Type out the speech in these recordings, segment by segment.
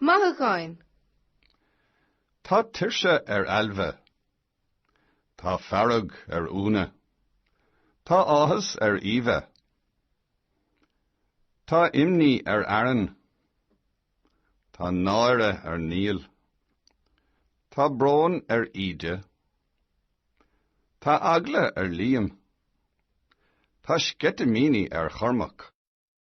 Mothúcháin. Tá tuirse ar Ailbhe. Tá fearg ar Úna. Tá áthas ar Aoibhe. Tá imní ar Aaron. Tá náire ar Niall. Tá brón ar Íde. Tá eagla ar Liam. Tá sceitimíní ar Chormac.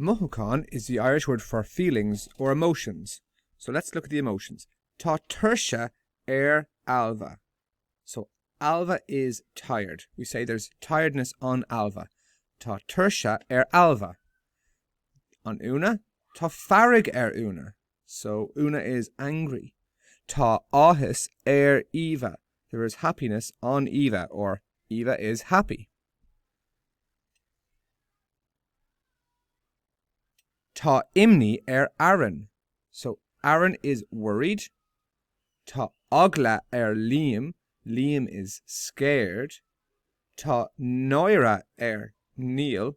Mothúcháin is the Irish word for feelings or emotions. So let's look at the emotions. Tá tuirse ar Ailbhe. So Ailbhe is tired. We say there's tiredness on Ailbhe. Tá tuirse ar Ailbhe. An Úna, tá fearg ar Úna. So Úna is angry. Tá áthas ar Eva. There is happiness on Eva or Eva is happy. Tá imní ar Aaron. So, Aaron is worried. Tá eagla ar Liam. Liam is scared. Tá náire ar Neil.